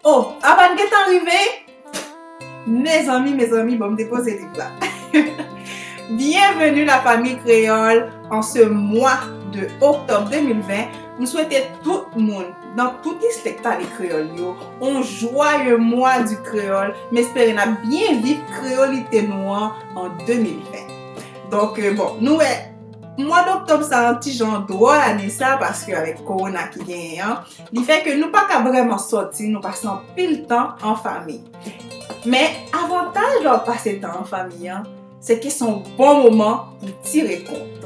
Oh Abba n gentan rive? Mezanmi mezanmi bon m depoze liv la. Byenveni la fanmi kreyòl an se mwa de oktòb 2020 m swete tout moun Nan tout distrek pale kreyòl yo, on jwaye mwa di kreyòl, m espere n ap byen viv kreyolite nou an an 2020. Donk bon, nou wè, mwa doktòb sa an ti jan dwòl ane sa paske avèk kowona ki genyen an, li fè ke nou pa ka vrèman sòti, nou pase anpil tan an fami. Men, avantaj lè w ap pase tan an fami an, Se ki son bon moman pou tire kont.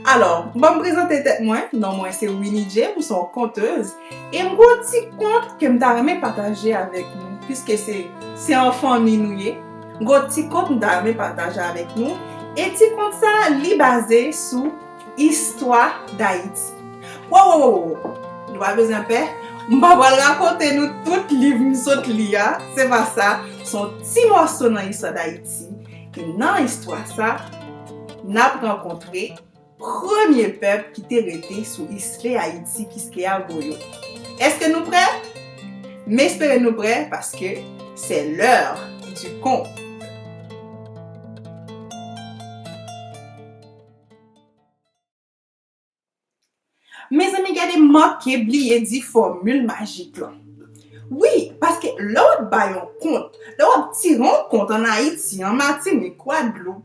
Alò, banm prezante tèt mwen, non mwen se Winnie Djee, m son kontez, e m gen yon ti kont ke m ta renmen pataje avèk nou, piske se se an fanmi nou ye, m gen yon ti kont m ta renmen pataje avèk nou, e ti kont sa a li baze sou istwa Dayiti. Wowowowowo, nou pa bezwen pè, m pa pral rakonte nou tout liv m sot li a, se pa sa, son ti mòso nan istwa Dayiti. Ayiti e nan istwa sa n ap rankontre premye pèp ki te rete sou isle Ayiti, Kiskeya Goyo. Eske nou prè? M espere nou prè paske se l'heure du conte. Mezanmi gade manke bliye di fòmil majik lan. Wi, paske lè w ap bay yon kont, lè w ap tire yon kont an Ayiti, an Matinik, Gwadloup,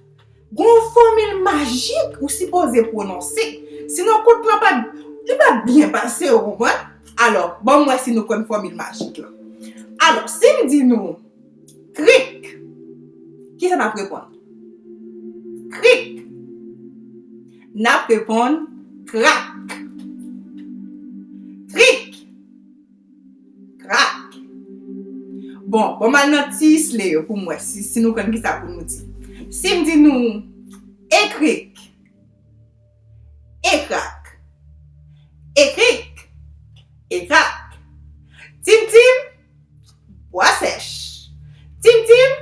gen yon fòmil majik ou sipoze pwononse. Sinon kont lan pap, li pap byen pase ou konprann? Alò, ban m wè si nou konn fòmil majik lan. Alò, si m di nou. Krik! Kisa n ap reponn? Krik! N ap reponn krak! Krik! Krak! Bon, bon m al nan ti isle yo pou m wè si nou konn kisa pou nou di. Si m di nou, E krik! E krak! E krik! E krak! Tim tim! Bwa sèch! Tim tim!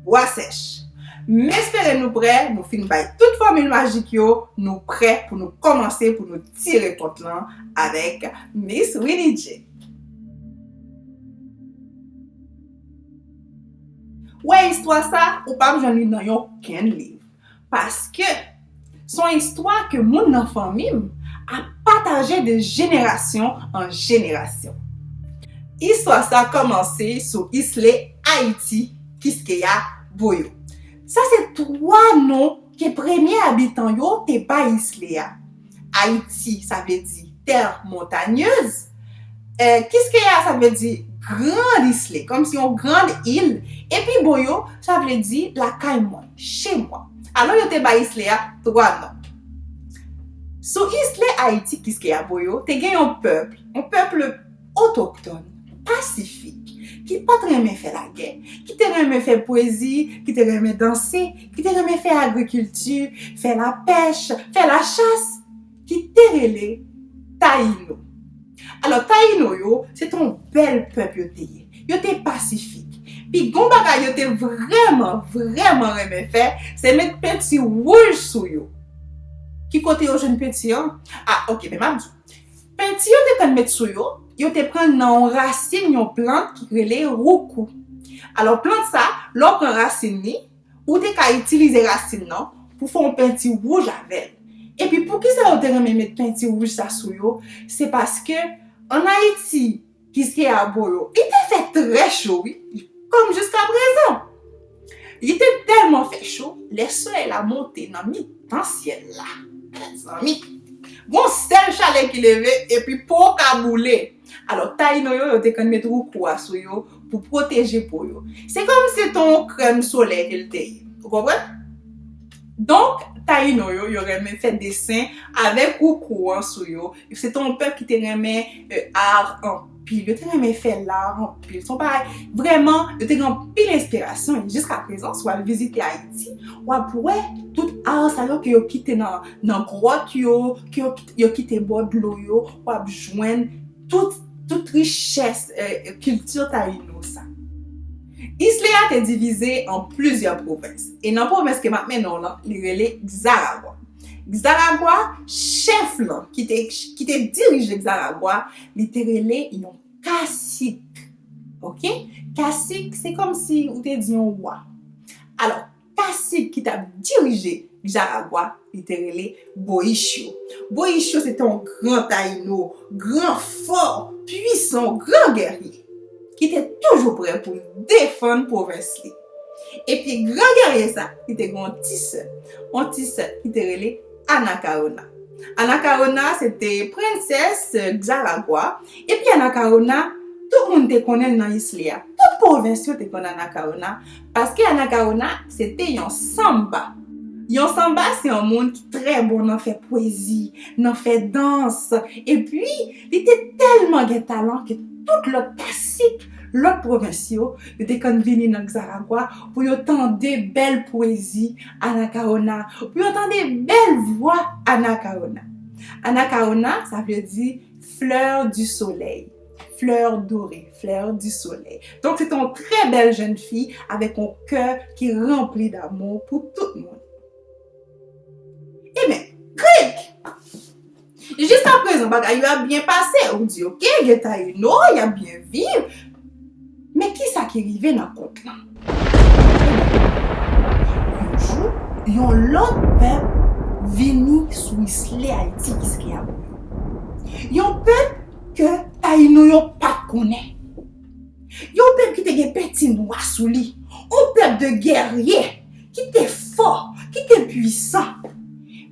Bwa sèch! M espere nou prè, nou fin bay tout fòmil majik yo, nou prè pou nou kòmanse pou nou tire kont lan avèk Miss Winidji. Wè istwa sa, ou pap jwenn li nan yon kenn liv. Paske, s on istwa ke moun nan fanmi m ap pataje de jenerasyon an jenerasyon. Istwa sa kòmanse sou isle Ayiti, Kiskeya, Boyo. Sa se twa non ke premye abitan yo te bay isle a. Ayiti, sa vle di terre montagneuse. Kiskeya, sa vle di grand isle, kòmsi yon grand il. E pi bon yo, sa vle di lakay mwen, chez moi. Alò yo te bay isle a 3 non. Sou isle Ayiti, Kiskeya, Boyo, te gen yon pèp, yon pèp. otoktòn, pasifik, ki pa t renmen fè lagè, ki te renmen fè pwezi, ki te renmen danse, ki te renmen fè agrikilti, fè lapèch, fè lachas, ki te rele Tayino. Alò, Tayino yo, se te yon bèl pèp yo te ye. Yo te pasifik. Pi gwo bagay yo te vrèman, vrèman renmen fè, se met penti wouj sou yo. Ki kote yo jwenn penti an? A, ok, men m ap di w. Penti yo te konn met sou yo, yo te pran nan yon rasin yon plant ki rele roucou. Alò plant sa, lè w pran rasin li, ou te ka itilize rasin nan pou fè yon penti wouj avè l. Epi poukisa yo te renmen met penti wouj sa sou yo, se paske ann Ayiti, Kiskeya Bolo li te fè trè cho wi kòm jiskaprezan li te tèlman fè cho lè solèy la monte nan mitan syèl la mezanmi gon sèl chalè ki leve epi po w ka boule alò tayino yo yo te konn met woukou a sou yo pou pwoteje po yo se kòm se te yon krèm solèy ke l te ye ou konprann donk tayino yo yo renmen fè desen avèk woukou an sou yo. Se te yon pèp ki te renmen ar anpil. Yo te renmen fè lar anpil. Se yon bagay, vrèman, yo te gen anpil enspirasyon. E jiska prezan, si w al vizite Ayiti, w ap wè tout ar sa yo ke yo kite nan gwòt yo, ke yo kite bò dlo yo, w ap jwenn tout richès kilti tayino sa. Isle a te divize an plizyè pwovens. E nan pwovens ke m ap mennen w lan, li rele Zaragwa. Xaragua, chèf lan, ki te, ki te dirije Xaragua, li te rele yon kasik. Ok? Kasik, se kòm si ou te di yon wa. Alò, kasik ki t ap dirije Xaragua, li te rele Boischio. Boischio se te yon gran tayino, gran, fò, pwisan, gran gèrye, ki te toujou prè pou l defann pwovens li. Epi gran gèrye sa a, li te gen yon ti sè, yon ti sè ki te rele Anakawona. Anakawona a se te prensès Xaragua. Epi Anakawona, tout moun te konnen l nan isle a. Tout pwovens yo te konn Anakawona, paske Anakawona se te yon sanmba. Yon sanmba se yon moun ki trè bon nan fè pwezi, nan fè dans. Epi. Li te tèlman gen talan ke tout lòt kasik lòt pwovens yo, yo te konn vini nan Xaragua pou yo tande bèl pwezi Anacaona, pou yo tande bèl vwa Anacaona. Anacaona, sa vle di Fleur du soleil, Fleur dorée, Fleur du soleil. Donk se te yon trè bèl jenn fi avèk yon kè ki ranpli damou pou tout moun. Eben, krik! Jiska prezan bagay yo ap byen pase, ou di ok, gen Taïno, y ap byen viv. Men ki sa ki rive nan kont lan? Yon jou, yon lòt pèp vini sou isle Ayiti ki se Keyabouyo. Yon pèp ke Taïno yo pa t konnen. Yon pèp ki te gen penti nwa sou li. Yon pèp de gèrye, ki te fò, ki te pwisan.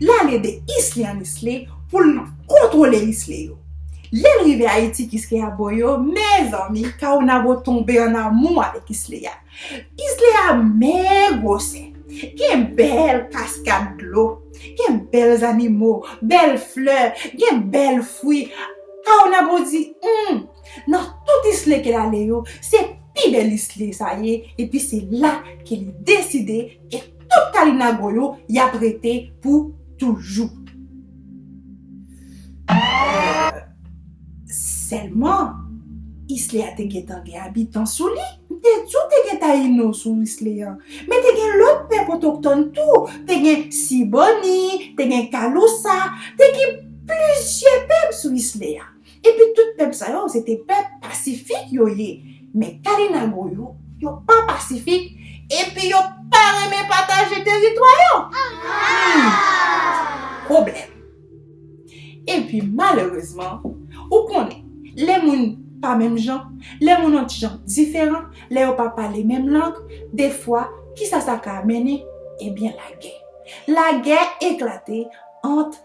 L al ede islyanis li pou l kontwole isle yo. Lè l rive Ayiti Kiskeya bo yo, mezanmi, Kawonabo tonbe an amou avèk Isleya. Isleya men gwosè. Gen bèl kaskad dlo. Gen bèl zannimo, bèl flè, gen bèl fwi. Kawonabo di, Hum! Nan tout isle ke l ale yo, se pi bèl isle sa ye epi se la ke li deside E tout kalinago yo yap rete pou toujou. Eehh Selman isle a te gentan gen abitan sou li. M te di w te gen tayino sou isle an. Men te gen lòt pèp otoktòn tou. Te gen siboni, te gen kalousa, te gen plizyè pèp sou isle a. Epi tout pèp sa yo se te pèp pasifik yo ye men kalinago yo yo pa pasifik epi yo pa renmen pataje teritwa yo humm pwoblèm epi malerezman ou konnen lè moun pa menm jan lè moun an ti jan diferan lè yo pa pale menm lang defwa kisa sa ka mennen ebyen lagè lagè eklate ant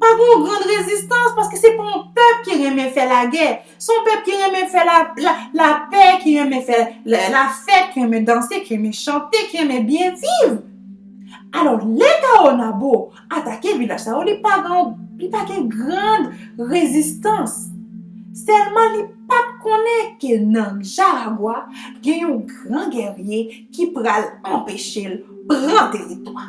Pa gen yon grand rezistans paske se pa yon pèp ki renmen fè lagè. Se yon pèp ki renmen fè lapè, ki renmen fè lafèt, ki renmen danse, ki renmen chante, ki renmen byen viv. Alò, lè Tawonabo atake vilaj sa yo, li pa gen yon, li pa gen grand rezistans. Sèlman li pa konnen ke nan Jaragua, gen yon gran gèrye ki pral anpeche l pran teritwa.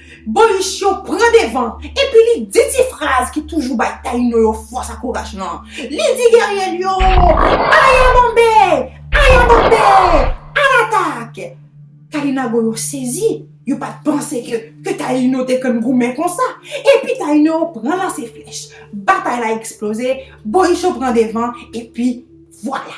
Boris yo pran devan epi li di ti fraz ki toujou bay Tayino yo fòs ak kouraj lan. Li di gèrye l yo, Aya Bonbe! Aya Bonbe! Alatak! Kalinago yo sezi, yo pa t panse ke Tayino te konn goumen konsa. Epi Tayino yo pran lanse flèch. Batay la eksploze, Boris yo pran devan epi vwala!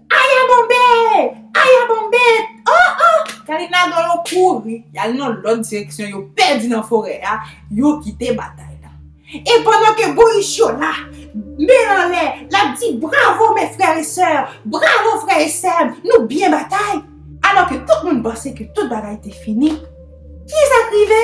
Aya bonbe! Aya bonbe! Oh oh! Kalin Nadò yo kouri, y al nan lòt direksyon, yo pèdi nan forè a, yo kite batay la. E pandan ke Boric yo la, men l anlè, l ap di bravo mes frères et sœurs, bravo frè e sè m, nou byen batay! Alò ke tout moun panse ke tout bagay te fini, ki sa k rive?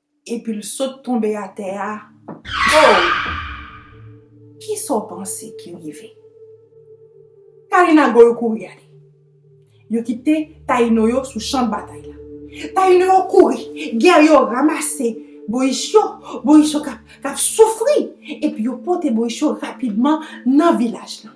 Epi l sot tonbe atè a. Ow! Kisa w panse ki rive? Taina Goyo kouri ale. Yo kite Taino yo sou chan batay la. Taino yo kouri. Gè yo ramase Boris yo. Boris yo k ap soufri. Epi yo pote Boris yo rapidman nan vilaj la.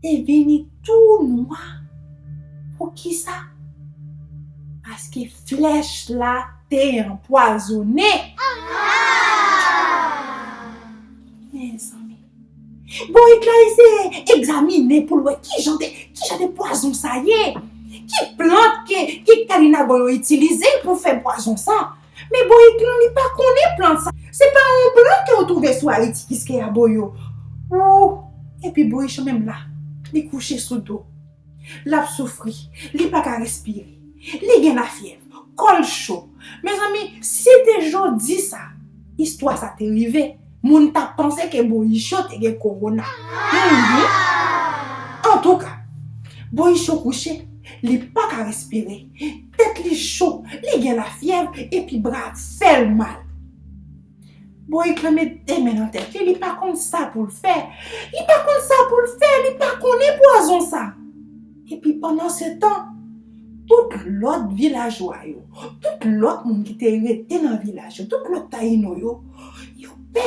Te vini tou nwa. Poukisa? Paske flèch la te anpwazone. Mezanmi! Bon et la eseye egzamine pou l wè ki jan de, ki jan de pwazon sa ye? Ki plant ke Kalinago yo itilize pou fè pwazon sa? Men boyik non li pa konnen plan sa. Se pa yon plan kew trouve sou ayiti kiskeya boyo ooh epi boyich menm la li kouche sou do lap soufri li paka respire li gen lafyèv kòl cho mezanmi si te jodi sa istwa sa te rive moun tap panse ke boyicho te gen kowona humm antouka boyicho kouche li paka respire. Tèt li cho, li gen lafyèv epi bra ap fè l mal. Bourik lan met de men nan tèt li, li pa konn sa pou l fè. Li pa konn sa pou l fè, li pa konnen pwazon sa. Epi pandansetan, tout lòt vilajwa yo, tout lòt moun ki te rete nan vilaj yo, tout lòt Tayino yo, yo pè.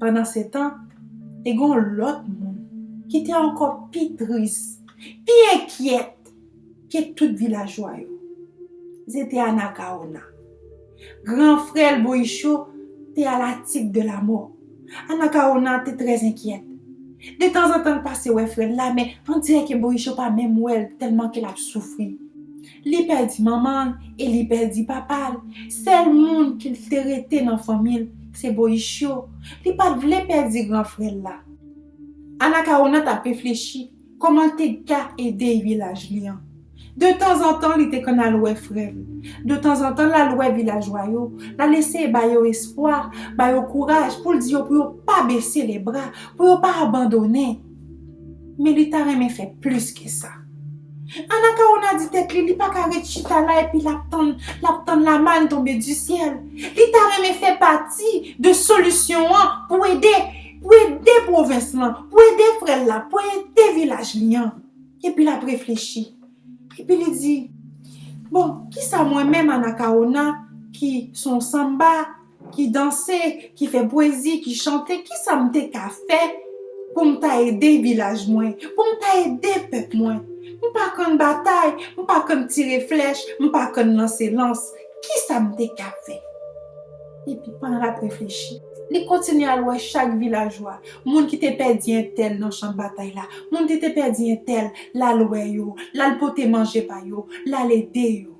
Pandansetan, te gen yon lòt moun ki te ankò pi tris, pi enkyèt ke tout vilajwa yo. Se te Anakawona. Gran frè l, Boyicho, te a la tig de lamò. Anakawona te trè enkyèt. Detanzantan l pase wè frè l la, men, on dirè ke Boyicho pa menm wè l tèlman ke l ap soufri. Li pèdi manman l e li pèdi papa l. Sèl moun ki te rete nan fanmi l se Boichio. Li pa t vle pèdi gran frè l la. Anakawona t ap reflechi kòman l te ka ede vilaj li an. De tanzantan li te konn al wè frè l. De tanzantan l al wè vilajwa yo, l al eseye ba yo espwa, ba yo kouraj pou l di yo pou yo pa bese lebra, pou yo pa abandonnen. Men li ta renmen fè plis ke sa. Anakawona di tèt li, li pa ka ret chita la epi l ap tann, l ap tann lamann tonbe di syèl. Li ta renmen fè pati de solisyon an pou ede, pou ede pwovens lan, pou ede frè l la, pou ede vilaj li an. Epi l ap reflechi. Epi li di, Bon, kisa mwen menm Anakawona ki s on sanba ki danse, ki fè pwezi, ki chante, kisa m te ka fè pou m ta ede vilaj mwen, pou m ta ede pèp mwen? M pa konn batay, m pa konn tire flèch, m pa konn lanse lans, kisa m te ka fè? Epi pandan l ap reflechi, li kontinye al wè chak vilajwa, moun ki te pèdi entèl nan chan batay la, moun ki te pèdi entèl, l al wè yo, l al pote manje ba yo, l al ede yo.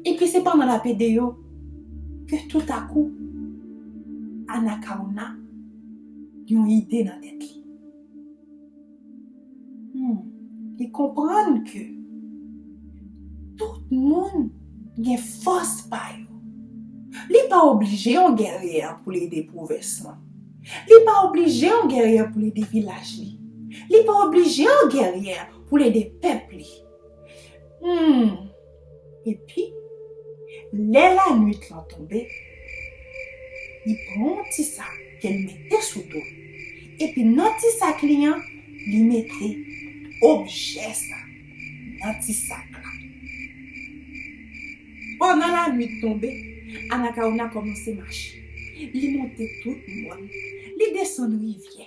Epi se pandan l ap ede yo ke toutakou Anakawona gen yon ide nan tèt li. Hum, li konprann ke tout moun gen fòs pa yo. Li pa oblije yon gèrye pou l ede pwovens lan. Li pa oblije yon gèrye pou l ede vilaj li. Li pa oblije yon gèrye pou l ede pèp li. Humm! Epi, lè lanuit lan tonbe, li pran yon ti sak ke li mete sou do l. Epi nan ti sak li an, li mete objè sa nan ti sak la. Pandan lanuit tonbe, Anakawona kòmanse mache. Li monte tout mòn, li desann rivyè.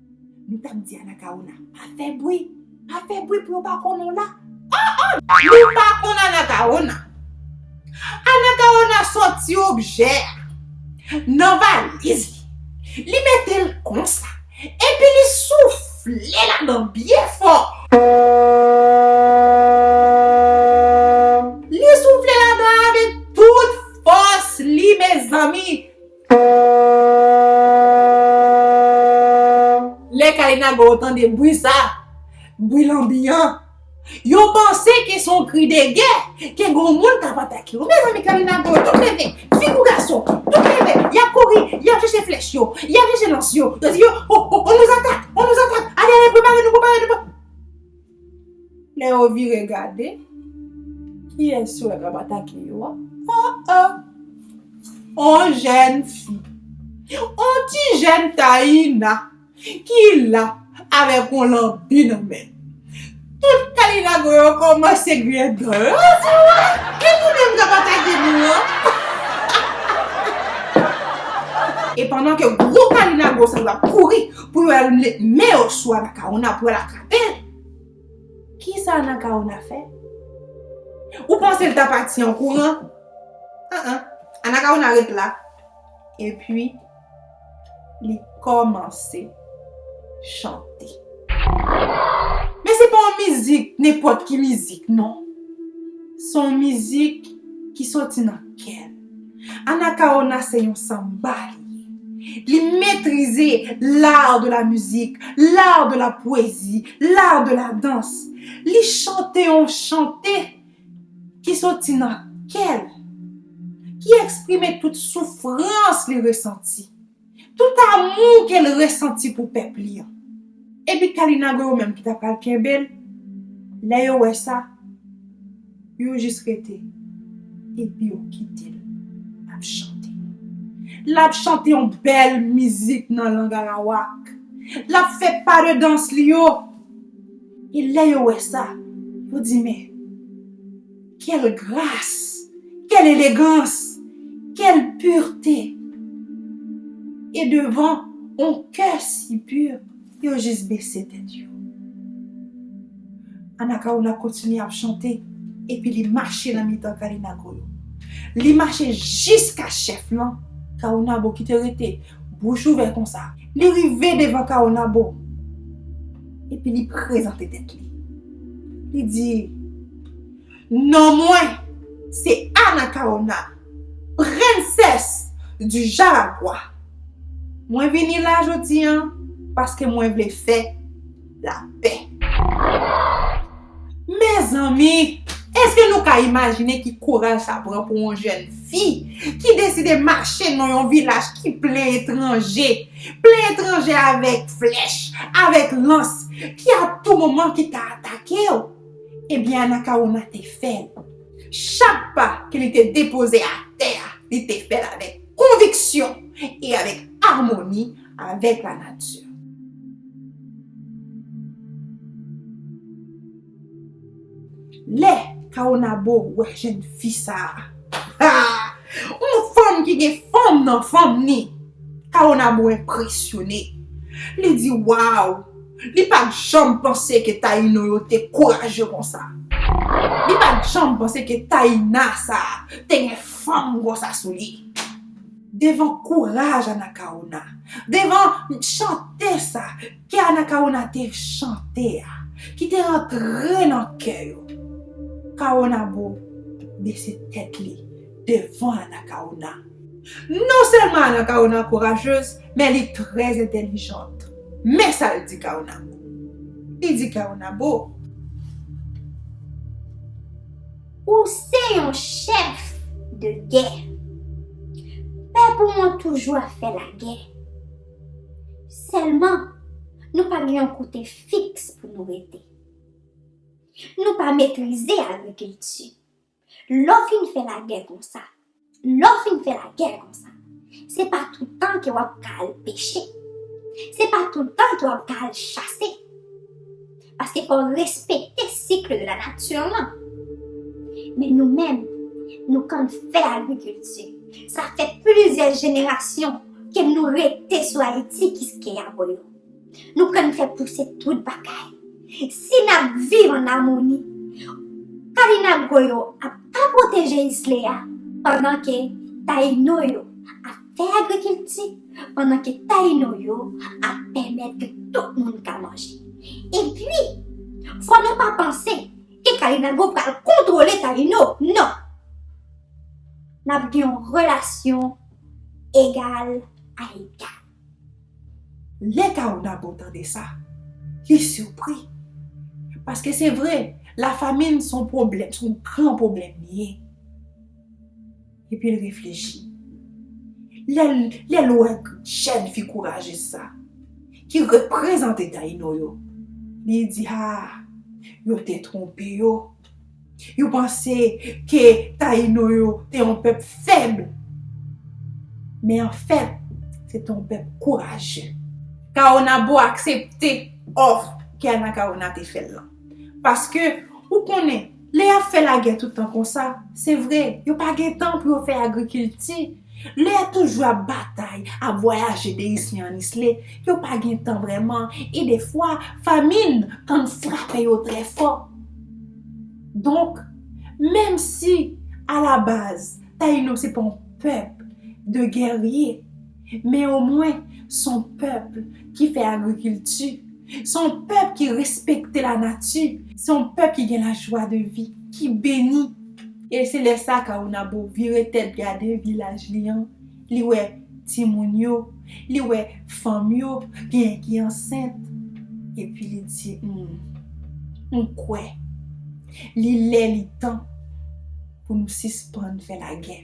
Nou tap di anakawona pa fè bwi pa fè bwi pou yo pa konnen w la ah ah. Nou pa konn anakawona. Anakawona sòti objè a nan valiz li, li mete l konsa epi li soufle ladan byen fò li soufle ladan avèk tout fòs li mezanmi Lè kay Nago yo tande bri sa, bri lanbi an, yo panse ke son kri de gè, ke gon moun kap atake yo. Mezanmi kay Nago yo tout leve, fi kou gason, tout leve, yap kouri, yap chèche flèch yo, yap chèche lans yo, yo di yo, o, o, o, on nous attaque, on nous attaque, ale, ale, prepare nou, prepare nou, prepare nou. Lè yo vire gade, kiyès yo wè k ap atake yo a? O o! On jèn fi, on ti jèn Taïna ki la avèk on lanbi nan men l. Tout kalinago yo kòmanse griyen dan yo. Yo di, Ou wè, e nou menm k ap atake nou an? E pandan ke gwo kalinago sa yo ap kouri pou yo al met men yo sou Anakaona pou yo al ak. Pèt! Ki sa Anakawona fè? Ou panse l ta pati an kouran? An an. Anakawona ret la. Epi, li kòmanse chante. Men se pa yon mizik, nenpòt ki mizik, non. Se yon mizik ki soti nan kè l. Anacaona se yon samba li ye. Li metrize l'art de la musique, l'art de la poésie, l'art de la danse. Li chante yon chante ki soti nan kè l, ki eksprime tout soufrans li resanti. Tout amou ke l resanti pou pèp li an. Epi Kalinago yo menm ki ta pral kenbe l, lè yo wè sa, yo jis rete epi yo kite l ap chante. L ap chante yon bèl mizik nan lang arawak. L ap fè pa de dans li yo. E lè yo wè sa, yo di men. Quel gras! Quel elegans! Quel purte! E devan on kè si pur, yo jis bese tèt yo. Anakaoula kontinye ap chante epi li mache nan mitan Kalinago yo. Li mache jiska chèf lan, Kaonabo ki te rete bouch ouvè konsa. Li rive devan Kaonabo epi li prezante tèt li. Li di. Non mwen se Anacaona, prensès di Jaragua. Mwen vini la jodi an paske mwen vle fè lapè. Mezanmi! Eske nou ka imajine ki kouraj sa pran pou yon jèn fi ki deside mache nan yon vilaj ki plen etranje, plen etranje avèk flèch, avèk lans ki a tou moman ki ka atake w? Ebyen Anakawona te fè l. Chak pa ke li te depoze atè a, li te fè l avèk konviksyon e avèk amoni avèk lanati. Lè Kawonabo wè jenn fi sa a, ha! Yon fanm ki gen fanm nan fanm ni! Kawonabo enpresyone. Li di, Waw! Li pa t janm panse ke Tayino yo te kourajè konsa. Li pa t janm panse ke Tayina sa a te gen fanm konsa sou li. Devan kouraj Anakawona, devan chante sa ke Anakawona te chante a, ki te antre nan kè yo, Kawonabo bese tèt li devan Anakawona. Non sèlman Anacaona kourajeuse, men li trè entèlijant. Men sa l di Caonabo. Li di Caonabo. Ou se yon chèf de gè. Pèp ou an toujou ap fè lagè. Sèlman, nou pa gen yon kote fiks pou nou rete. Nou pa metrize agrikilti. Lè w fin fè lagè konsa. Lè w fin fè lagè konsa. Se pa toutan ke w ap ka al peche. Se pa toutan ke w ap ka al chase. Paske fò w respekte cycle de la nature lan. Men nou menm, nou konn fè agrikilti. Sa fè plizyè jenerasyon ke nou rete sou Ayiti kiskeya boyo. Nou konn fè pouse tout bagay. Si n ap viv an amoni, Kalinagro yo ap ka pwoteje isle a pandan ke Tayino yo ap fè agrikilti, pandan ke Tayino yo ap pèmèt ke tout moun ka manje. Epi, fò nou pa panse ke Kalinagro pral kontwole Tayino, non! N ap gen yon relasyon egal a egal. Lè Caonabo tande sa, li sipri. Paske se vre, lafamin son pwoblèm, son gran pwoblèm li ye. Epi l reflechi. Lè l wè jèn fi kourajez sa, ki reprezante Tayino yo, li di, Haa, yo te twonpe yo. Yo panse ke Tayino yo te yon pèp fèb. Men an fèt, se te yon pèp kourajè. Kawonabo aksepte òf ke Anakawona te fè l lan. Paske, ou konnen, lè y ap fè lagè toutan konsa, se vre, yo pa gen tan pou yo fè agrikilti. Lè yo toujou ap batay, ap vwayaje de isle an isle, yo pa gen tan vrèman, e defwa, famin konn frape yo trè fò. Donk, menm si, alabaz, Tayino se pa yon pèp de gèrye, men omwen, s on pèp ki fè agrikilti. Se yon pèp ki respekte la nati. Se yon pèp ki gen la jwa de vi, ki beni. E se lè sa Caonabo vire tèt gade vilaj li an, li wè timoun yo, li wè fanm yo, genyen ki ansent. Epi li di, Humm, m kwè. Li lè li tan pou nou sispann fè lagè.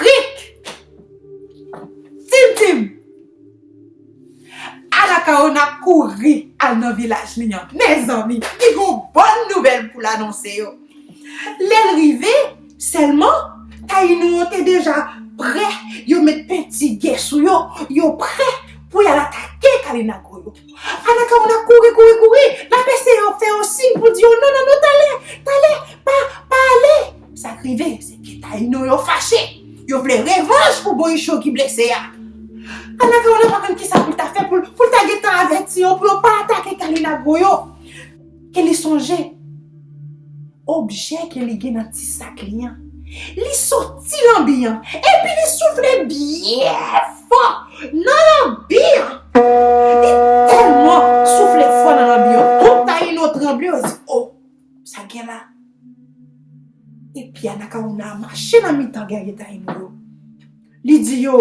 Krik! Tim tim! Anakawona kouri al nan vilaj li an. Mezanmi, li gon bòn nouvèl pou l anonse yo. Lè l rive, sèlman, Tayinou an te deja prè, yo met penti gè sou yo, yo prè pou y al atake Kalinago yo. Anakawona kouri kouri kouri l ap eseye yo fè yo siy pou di yo non non non talè talè pa pa ale sa k rive se ke tayino yo fache yo vle revanj pou boyichon ki blese a anakawona pa konn kisa pou l ta fè pou l ta gentan avèti yo pou yo pa atake kalinagwo yo. Ke li sonje, objè ke li gen nan ti sak li an, li soti lanbi an, epi li soufle byen fò nan lanbi an. Li tèlman soufle fò nan lanbi an, tout Tayino tranble, yo di, O! Sa gen la? Epi Anakawona a mache nan mitan gèrye Tayino yo, li di yo,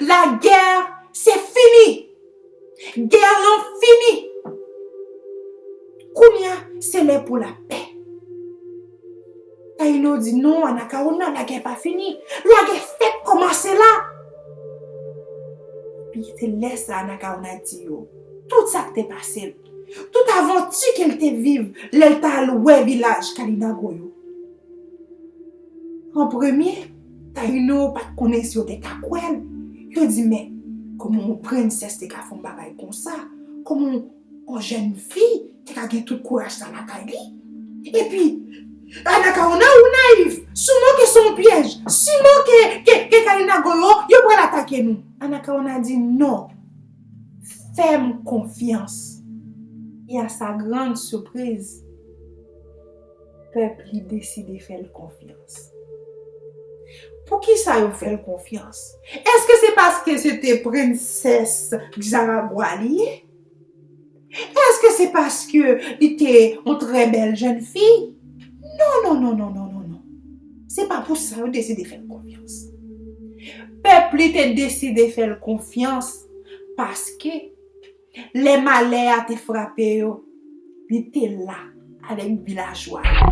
La guerre se fini. Guerre lan fini. Kounye a se lè pou la pè. Taïno di non Anacaona la guerre pa fini. La guerre fèk kòmanse la. Epi se lè sa Anacaona di yo tout sa k te pase l. Tout avanti ke l te viv lè l t al wè vilaj Kalinago yo. An premye. Taïno pat konnen si yo te ka kwè l, yo di men kòman yon prensès te ka fè yon bagay konsa, kòman yon jèn fi te ka gen tout kouraj sa lakay li. Epi Anakaona ou nayif, souman ke son pyèj, souman ke Kainago yo, yo pral atake nou. Anakaona di non, fè m konfyans. E a sa grand sipriz. Pèp li deside fè l konfyans. Poukisa yo fè l konfyans? Èske se paske se te prensès Xaragua li ye? Èske se paske li te yon trè bèl jèn fi? Non, non, non, non, non, non, non. Se pa pou sa yo deside fè l konfyans. Pèp li te deside fè l konfyans paske. Lè malè a te frape yo, li te la avèk vilajwa yo.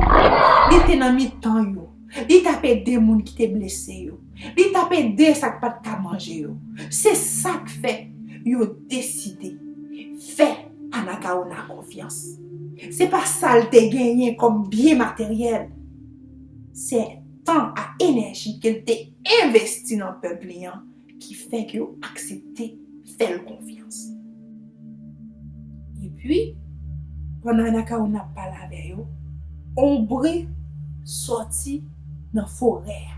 Li te nan mitan yo. Li t ap ede moun ki te blese yo. Li t ap ede sa k pa t ka manje yo. Se sa k fè yo deside fè Anakawona konfyans. Se pa sa l te genyen kòm byen materyèl. Se tan ak enèji ke l te envesti nan pèp li an. Ki fè ke yo aksepte fè l konfyans. Epi, pandan Anakawona ap pale avè yo, on bri sòti nan forè a.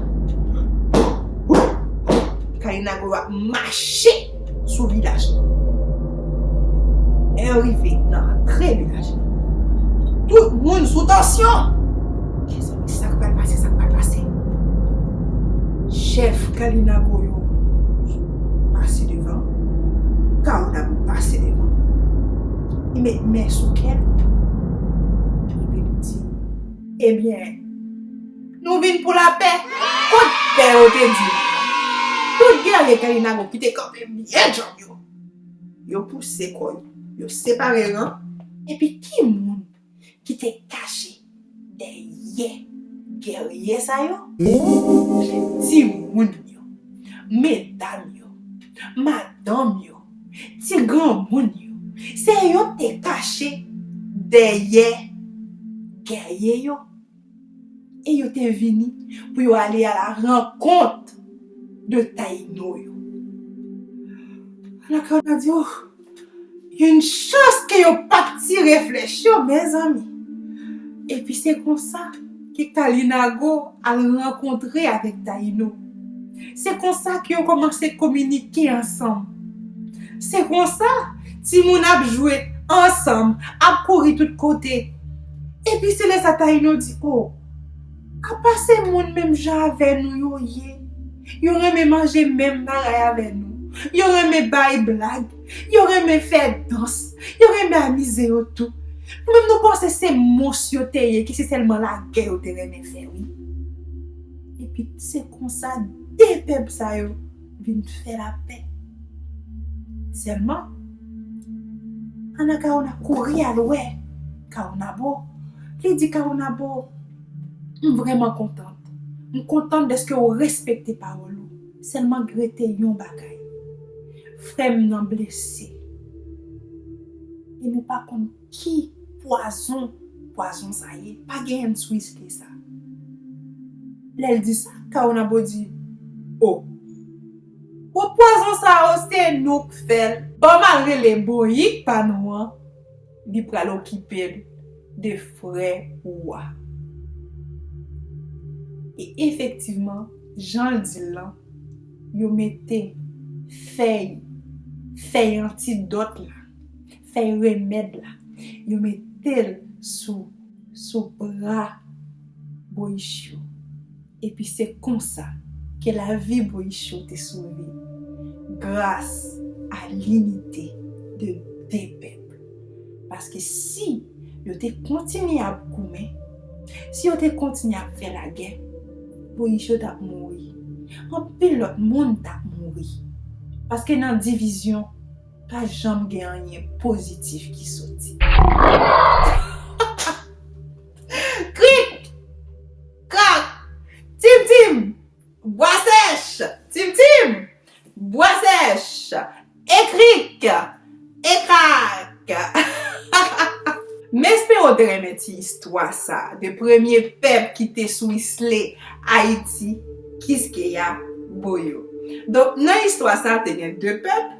Karina Gourou ap mache sou vilaj la. Lè yo rive nan antre vilaj la. Tout moun sou tansyon. Mezanmi sak pral pase, sak pral pase. Chèf Karina Gourou pase devan. Karina Gourou pase devan. Li met men sou kèl. Li di, ebyen. Nou vin pou lapè. Kot pè yo te di nou an? Tout gèrye peyi Nago ki te kanpe byen djanm yo, yo pouse kò yo, yo separe ran, epi ki moun ki te kache dèyè gèrye sa yo? Timoun yo, medam yo, madanm yo, ti granmoun yo, se yo te kache dèyè gèrye yo. E yo te vini pou yo ale a la rankont de Tayino yo. Alò ke w ta di, oh! Yn chans ke yo pa t tire flèch yo, mezanmi! Epi se konsa ke Kalinago al rankontre avèk Tayino. Se konsa ke yo kòmanse kominike ansanm. Se konsa, timoun ap jwe ansanm, ap kouri tout kote. Epi se lè sa Taïno di, O, apa se moun menm jan avè nou yo ye, yo renmen manje menm bagay avè nou, yo renmen bay blag, yo renmen fè dans, yo renmen amize yo tou. Nou menm nou panse se mons yo te ye ki se sèlman lagè yo te renmen fè wi. Epi se konsa 2 pèp sa yo. Vin fè lapè. Sèlman, Anakawona kouri al wè Kawonabo. Li di Kawonabo, M vrèman kontan. M kontan dèske ou respekte pawòl ou. Sèlman grete yon bagay. Frè m nan blese. E nou pa konn. Ki pwazon pwazon sa ye pa genyenn tris ke sa. Lèl di sa Caonabo di oh. Bon pwazon sa oh se nou k fèl. Banm al rele boyik pa nou an li pral okipel de frè ou a. E efektivman janl dil lan yo mete fèy fèy antidòt la. fèy remèd la yo metel sou sou bra boyichyo epi se konsa ke lavi boyichyo te sove gras a linite de 2 pèp paske si yo te kontinye ap goumen si yo te kontinye ap fè lagè boyichyo tap mouri anpil lòt moun tap mouri paske nan divizyon Pa janm gen anyen pozitif ki soti. Krik! Krak! Tim tim! Bwa sèch! Tim tim! Bwa sèch! Ekrik! Ekrak! M espere w te renmen ti istwa sa de premye pèp ki te sou isle Ayiti, Kiskeya, Boyo. Donk nan istwa sa te gen 2 pèp.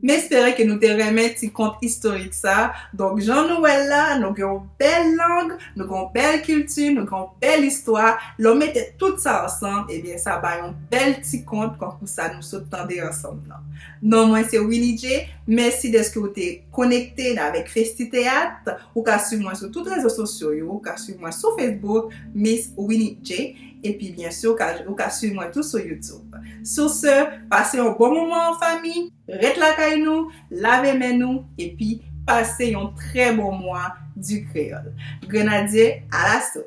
M espere ke nou te renmen ti kont istorik sa. Donk jan nou wè l la, nou gen yon bèl lang, nou gen yon bèl kilti, nou gen yon bèl istwa. Lè w mete tout sa ansanm, ebyen sa bay yon bèl ti kont kankou sa nou sot tande ansanm nan. Non mwen se Winnie Djé. Mèsi dèske ou te konekte avèk Festiteyat. Ou ka swiv mwen sou tout rezo sosyo yo. Ou ka swiv mwen sou Facebook, Miss Winnie Djé. Epi byen si ou ka swiv mwen tou sou YouTube. Sou se, pase yon bon moman an fanmi, ret lakay nou, lave men nou, epi pase yon trè bon mwa du créole. Grenadye a laso!